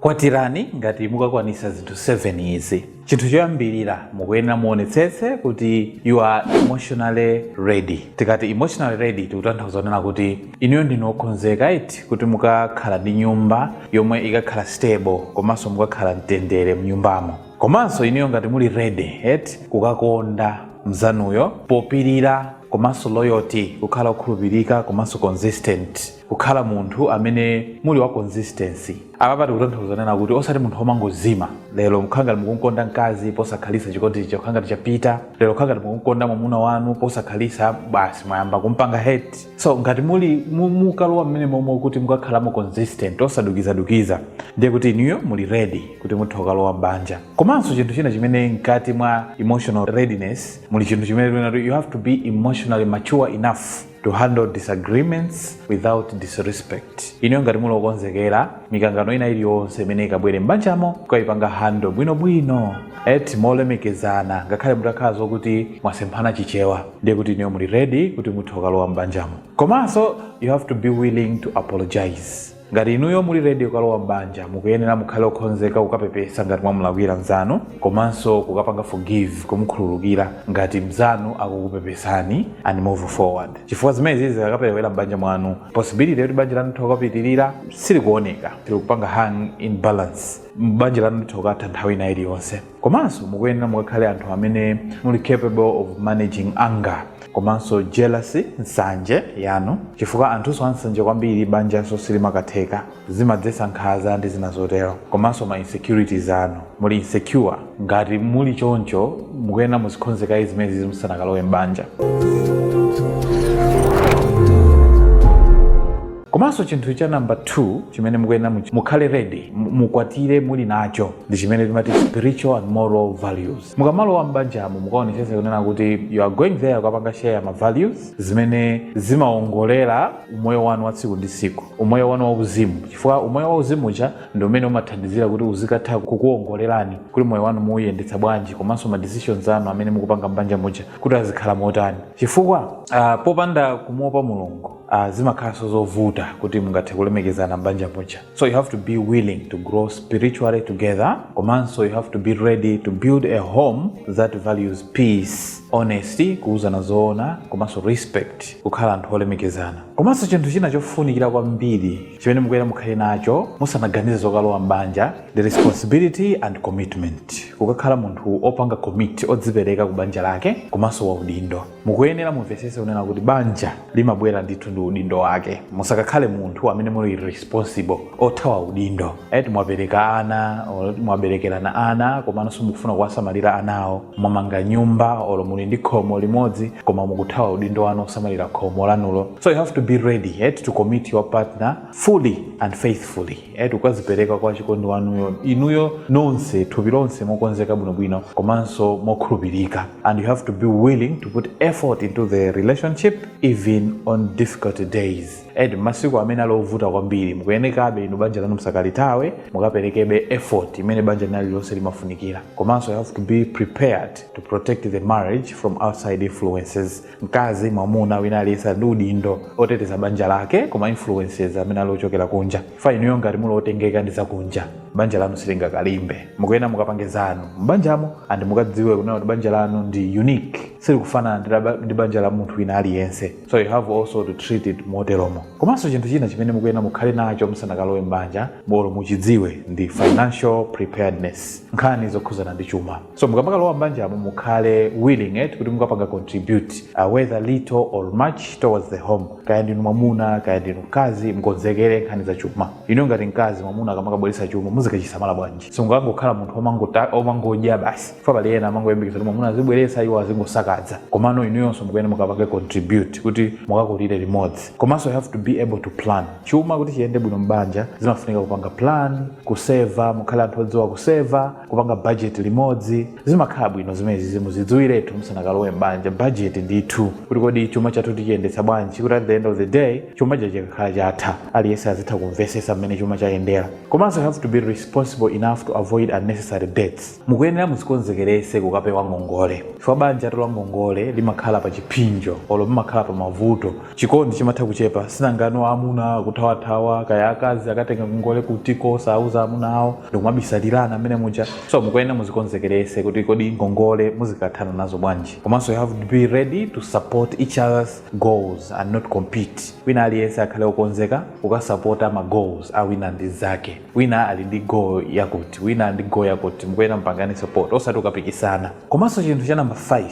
Kwatirani ngati mukakwanitsa zinthu 7 izi. Chinthu choyambirira, mukuyenera muonetsetse kuti you are emotionally ready. Tikati emotionally ready tikutanthauza kunena kuti inuyo ndinu okhonzeka eti kuti mukakhala ndi nyumba yomwe ikakhala stable komanso mukakhala mtendere mnyumbamo. Komanso inuyo ngati muli ready eti kukakonda mzanuyo popirira komanso loyalty kukhala okhulupirika komanso consistent. kukhala munthu amene muli wa consistency apapa tikutanthauza kunena kuti osati munthu womangozima lero kukhala ngati mukumkonda mkazi posakhalitsa chikondi chija kukhala ngati chapita lero kukhala ngati mukumkonda mwamuna wanu posakhalitsa basi mwayamba kumpanga hate so ngati muli mu- mukalowa mmene momwe kuti mukakhalamo consistent osadukizadukiza ndiye kuti inuyo muli ready kuti mutha okalowa m'banja komanso chinthu china chimene mkati mwa emotional readiness muli chinthu chimene tikunena kuti you have to be emotionally mature enough to handle disagreements without disrespect inuyo ngati muli okonzekera mikangano ina iliyonse imene ikabwere m'banjamo kukayipanga handle bwinobwino eti molemekezana ngakhale mutakhala zokuti mwasemphana chichewa ndiye kuti inuyo muli ready kuti mutha okalowa m'banjamo komanso you have to be willing to apologize ngati inuyo muli ready kukalowa m'banja mukuyenera mukhale okhonzeka kukapepesa ngati mwamulakwira mzanu komanso kukapanga forgive kumukhululukira ngati mzanu akukupepesani and move forward chifukwa zimenezizi zikakaperewera m'banja mwanu possibility yakuti banja lanu litha okapitirira siikuoneka ikupanga hang in balance banja lanu litha okatha nthawi ina iliyonse komanso mukuyenera mukakhale anthu amene muli capable of managing anger komanso jealousy nsanje yanu chifukwa anthunso ansanje kwambiri banjanso silimakatheka zimadzetsa nkhanza ndi zina zotero komanso ma insecurities anu muli insecure ngati muli choncho mukuyenera muzikhonze kaye zimenezizi musanakalowe m'banja komanso chinthu cha namba 2 chimene mukuyenera much- mukhale ready mu- mukwatire muli nacho ndi chimene timati spiritual and moral values mukamalowa m'banjamo mukaonetsetse kunena kuti you are going there kukapanga share ma values zimene zimaongolera umoyo wanu wa tsiku ndi tsiku umoyo wanu wauzimu chifukwa umoyo wauzimu uja ndi umene umathandizira kuti uzikatha kukuongolerani kuti moyo wanu muuyendetsa bwanji komanso ma decisions anu amene mukupanga m'banja muja kuti azikhala motani chifukwa ah, popanda kumuopa mulungu uh, zimakhalanso zovuta kuti mungathe kulemekezana m'banja muja so you have to be willing to grow spiritually together komanso you have to be ready to build a home that values peace honesty kuuzana zoona komanso respect kukhala anthu olemekezana komanso chinthu china chofunikira kwambiri chimene mukuyenera mukhale nacho musanaganize zokalowa m'banja ndi responsibility and commitment kukakhala munthu opanga commit odzipereka ku banja lake komanso waudindo mukuyenera mumvetsetse kunena kuti banja limabwera ndithu ndi udindo wake musakakhale munthu amene muli irresponsible othawa udindo eti mwabereka ana or mwaberekerana ana komano simukufuna kuwasamalira anawo mwamanga nyumba olo muli ndi khomo limodzi koma mukuthawa udindo wanu osamalira khomo lanulo so you have to be ready eti to commit your partner fully and faithfully eti kukazipereka kwa wachikondi wanuyo inuyo nonse thupi lonse mokonzeka bwinobwino komanso mokhulupirika and you have to be willing to put effort into the relationship even on difficult days eti masiku amene ali ovuta kwambiri mukuyenekabe inu banja lanu msakalithawe mukaperekebe effort imene banja lina lililonse limafunikira komanso you have to be prepared to protect the marriage from outside influences mkazi mwamuna wina aliyense ali ndi udindo oteteza banja lake ku ma influences amene ali ochokera kunja chifukwa inuyo ngati muli otengeka ndi zakunja banja lanu silingakalimbe mukuyena mukapange zanu m'banjamo and mukadziwe kunena kuti banja lanu ndi unique silikufanana ndi la- ndi banja la munthu wina aliyense so you have also to treat it moteromo komanso chinthu china chimene mukuyena mukhale nacho musanakalowe m'banja olo muchidziwe ndi financial preparedness nkhani zokhuzana ndi chuma so mukamakalowa mbanjamo mukhale willing eti kuti mukapanga contribute uh, whether little or much towards the home kaya ndinu mwamuna kaya ndinu mkazi mukonzekere nkhani za chuma inuyo ngati mkazi mwamuna akamakabweretsa chuma muzikachisamala bwanji osamangokhala munthu omangota- omangodya basi chifukwa pali ena amangoyembekeza kuti mwamuna azibweretsa iwo azingosakaza komano inuyonso mukuyene mukapange contribute kuti mukakulire limodzi komanso you have to be able to plan chuma kuti chiyende bwino mbanja zimafunika kupanga plan kuseva mukhale anthu odziwa kuseva kupanga bajeti limodzi zimakhala bwino zimenezizi muzidziwiretu musanakalowe m'banja bajeti ndithu kuti kodi chuma chathu tichiyendetsa bwanji kuti at the end of the day chuma cha chikakhala chatha aliyense azitha kumvesesa mmene chuma chayendera komanso you have to be responsible enough to avoid unnecessary debts mukuyenera muzikonzekerese kukapewa ngongole chifukwa banjatu la ngongole limakhala pa chiphinjo olo limakhala pa mavuto chikondi chimatha kuchepa chifukwa nthangano amuna akuthawathawa kaya akazi akatenga ngongole kutiko osauza amuna awo ndikumabisalirana mmenemuja so mukuyenera muzikonzekerese kuti kodi ngongole muzikathana nazo bwanji komanso you have to be ready to support each other's goals and not compete wina aliyense akhale okonzeka kukasapota ma goals a wina mnzake wina ali ndi goal yakuti wina ndi goal yakuti mukuyena mpangane support osati kukapikisana komanso chinthu cha namba 5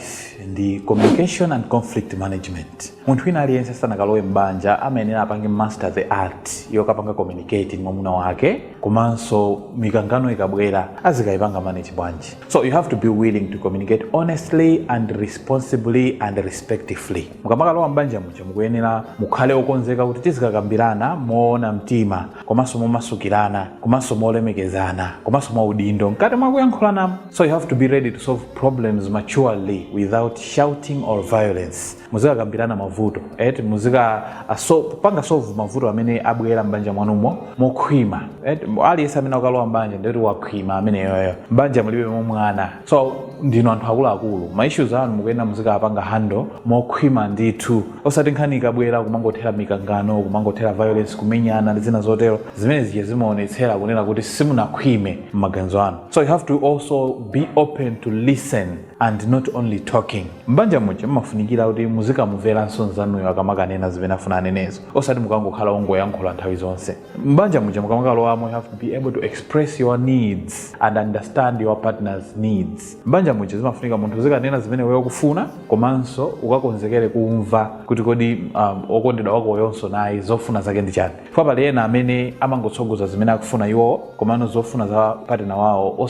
ndi communication and conflict management munthu wina aliyense asanakalowe m'banja amayenera apange master the art yokapanga communicate ndi mwamuna wake komanso mikangano ikabwera azikayipanga manage bwanji so you have to be willing to communicate honestly and responsibly and respectively mukamakalowa m'banja muja mukuyenera mukhale okonzeka kuti tizikakambirana moona mtima komanso momasukirana komanso molemekezana komanso mwa udindo mkati mwa kuyankhulanamo so you have to be ready to solve problems maturely without shouting or violence muzikakambirana mavuto eti muzikapanga solve mavuto amene abwera m'banja mwanumo mokhwima eti aliyense amene akalowa m'banja ndikuti wakhwima ameneyoyo m'banja mulibe mwana so ndinu anthu akuluakulu ma issues anu mukuyenera muzikapanga handle mokhwima ndithu osati nkhani ikabwera kumangothera mikangano kumangothera violence kumenyana ndi zina zotero zimene zija zimaonetsera kunena kuti simunakhwime m'maganizo anu so you have to also be open to listen and not only talking m'banja muja mmafunikira kuti muzikamumveranso nzanuyo akamakanena zimene afuna anenezo osati mukangokhala ongoyankhula nthawi zonse m'banja muja mukamakalowamo you have to be able to express your needs and understand your partner's needs m'banja muja zimafunika munthu uzikanena zimene wewe ukufuna komanso ukakonzekere kumva kuti kodi um, okondedwa wako uyonso naye zofuna zake ndi chani chifukwa pali ena amene amangotsogoza zimene akufuna iwowo komano zofuna za partner wawo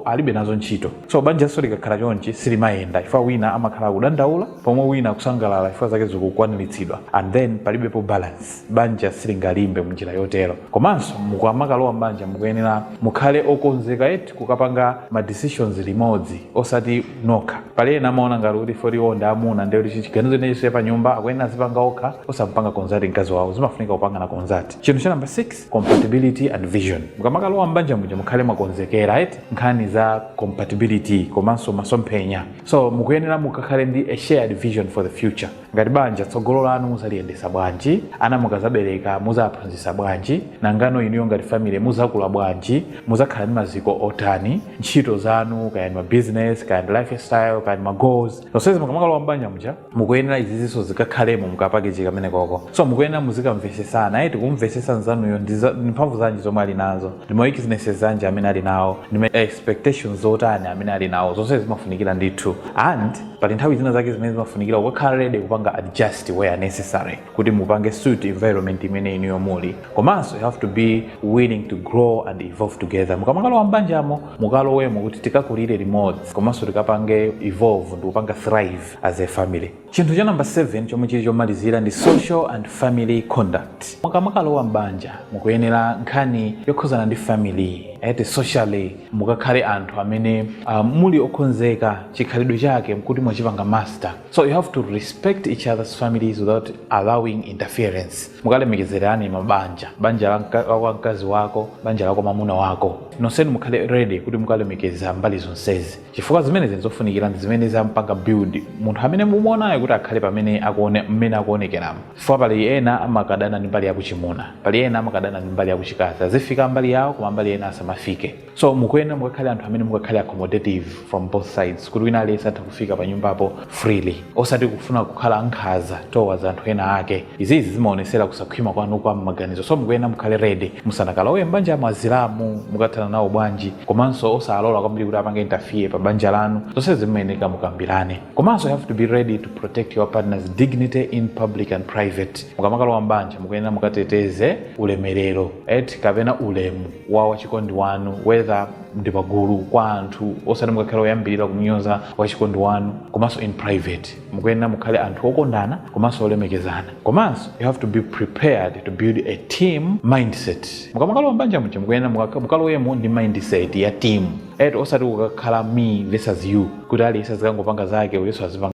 alibe nazo ntchito so banjanso likakhala chonchi silimayenda chifukwa wina amakhala akudandaula pomwe wina akusangalala chifukwa zake zikukwaniritsidwa and then palibepo balance banja silingalimbe mnjira yotero komanso mukamakalowa mbanja mukuyenera mukhale okonzeka eti kukapanga ma decisions limodzi osati nokha pali ena amaona ngati kuti poti iwo ndi amuna ndiye kuti chiganizo china chilichonse pa nyumba akuyenera azipanga okha osampanga consult mkazi wawo zimafunika kupangana consult chinthu cha namba 6 compatibility and vision mukamakalowa mbanja muja mukhale mwakonzekera eti nkhani za compatibility komanso masomphenya so mukuyenera mukakhale ndi a shared vision for the future ngati banja tsogolo lanu muzaliyendesa bwanji ana mukazabereka muzaphunzisa bwanji nangano inuyo ngati family muzakula bwanji muzakhala ndi maziko otani ntchito zanu kaya ndi mabusiness kaya ndi lifestyle kaya ndi magoals zonsezi mukamakalowa mbanja muja mukuyenera izizinso zikakhalemo mukapackage kamene koko so mukuyenera muzikamvesesana eti kumvesesa nzanuyo ndi za- ndi mphamvu zanji zomwe ali nazo ndi ma weaknesses anji amene ali nawo ndi ma expectations otani amene ali nawo zonsezi zimafunikira ndithu and pali nthawi zina zake zimene zimafunikira kukakhala ready kupanga adjust where necessary kuti mupange suit environment imene inuyo muli komanso you have to be willing to grow and evolve together mukamakalowa mbanjamo mukalowemo kuti tikakulire limodzi komanso tikapange evolve ndikupanga thrive as a family chinthu cha namba 7 chomwe chili chomalizira ndi social and family conduct mukamakalowa mbanja mukuyenera nkhani yokhuzana ndi family eti socially mukakhale anthu amene uh, muli okonzeka chikhalidwe chake mkuti mwachipanga master so you have to respect each other's families without allowing interference mukalemekezerane mabanja banja la mka- la kwa mkazi wako banja la kwa mamuna wako nonsenu mukhale ready kuti mukalemekeza mbali zonsezi chifukwa zimenezi nzofunikira ndi zimene zampanga build munthu amene mumuonayo kuti akhale pamene akuone mmene akuonekeramo chifukwa pali ena amakadana ndi mbali yakuchimuna pali ena amakadana ndi mbali yakuchikazi azifika mbali yawo koma mbali ena asamafike so mukuyenera mukakhale anthu amene mukakhale accommodative from both sides kuti wina aliyense atha kufika pa nyumbapo freely osati kufuna kukhala nkhaza towards anthu ena ake izizi zimaonesera kusakhwima kwanu kwa mmaganizo so mukuyenera mukhale ready musanakalowe mbanja muja azilamu mukathana nawo bwanji komanso osalola kwambiri kuti apange interfere pa banja lanu zonse zimayenera mukambirane komanso you have to be ready to protect your partner's dignity in public and private mukamakalowa mbanja mukuyenera mukateteze ulemerero eti kapena ulemu wa wachikondi wanu whether ndi pagulu kwa anthu osati mukakhale oyambirira kumunyoza wachikondi wanu komanso in private mukuyenera mukhale anthu okondana komanso olemekezana komanso you have to be prepared to build a team mindset mukamakalowa mbanja muja mukuyenera mukalowemo ndi mindset ya team eti osati kukakhala me versus you kuti aliyense azikangopanga zake uyenso azipanga